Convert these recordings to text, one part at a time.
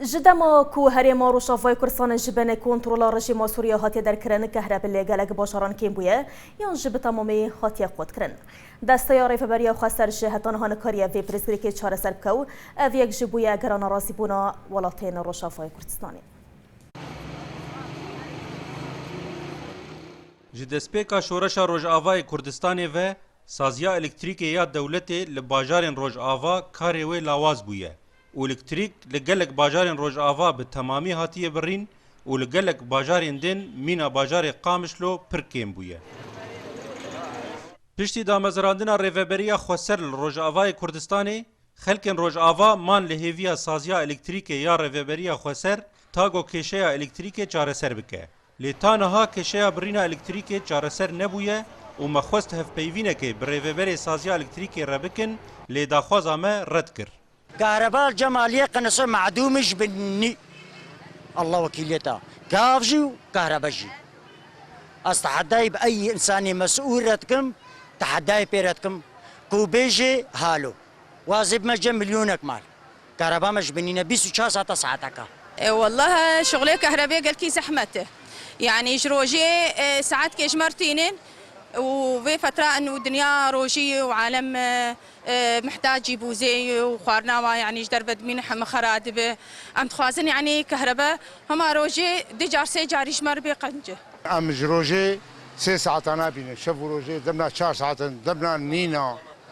Ji dema ku herêma Rojavayê Kurdistanê ji benê kontrola rejîma Sûriya hatiye derkirin, kehrebî lê gelek bajaran kêm bûye yan jî bi temamî hatiye qutkirin. Desteya Rêveberiya Xweser jî heta niha nikariye vê pirsgirêkê çareser bike û ev yek jî bûye gera nerazîbûna welatên Rojavayê Kurdistanê. Ji destpêka şoreşa Rojavayê Kurdistanê ve Saziya elektrîkê ya dewletê li bajarên Rojava karê wê lawaz bûye û elektrîk li gelek bajarên Rojava bi temamî hatiye birîn û li gelek bajarên din mîna bajarê Qamişlo pir kêm bûye. Piştî damezirandina Rêveberiya Xweser li Rojavayê Kurdistanê, xelkên Rojava man li hêviya saziya elektrîkê ya Rêveberiya Xweser tago kêşeya elektrîkê çareser bike. Lê ta niha kêşeya birîna elektrîkê çareser nebûye û me xwest hevpeyvînekê bi Rêveberê Saziya Elektrîkê re bikin lê daxwaza me red kir. Karebal Cemaliyê qinise madûmî ji bin nî Allah wekîliyeta gav jî û kahreba jî. Ez tehedayê bi eyî însanê mesûl re dikim, tehedayê pê re dikim ku bêjê halo. Wazê bime cem milyonek mal. Kareba me ji bin nîne bîst û çar sat e saeteke. Wallah şixulê kehrebê gelkî zehmet e. Yanî ji rojê saet kêjmer tînin û vê fetra in û dinya rojî û alem mihtacî bûzê û xwarina wan yanî ji derve dimîne heme xera dibe. Em dixwazin yanî kehrebe hema rojê du car sê carî ji me re bê qence. Em ji rojê sê saeta nabînin. Şev û rojê demna çar saet in, demna nîn e.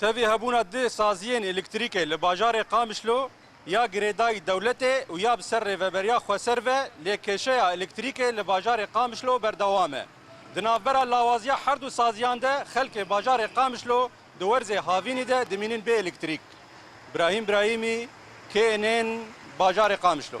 Tevî hebûna du saziyên elektrîkê li bajarê Qamişlo ya girêdayî dewletê û ya bi ser Rêveberiya Xweser ve lê kêşeya elektrîkê li bajarê Qamişlo berdewam e. Di navbera lawaziya her du saziyan de xelkê bajarê Qamişlo di werzê havînî de dimînin bê elektrîk. Brahîm Brahîmî, KNN, Bajarê Qamişlo.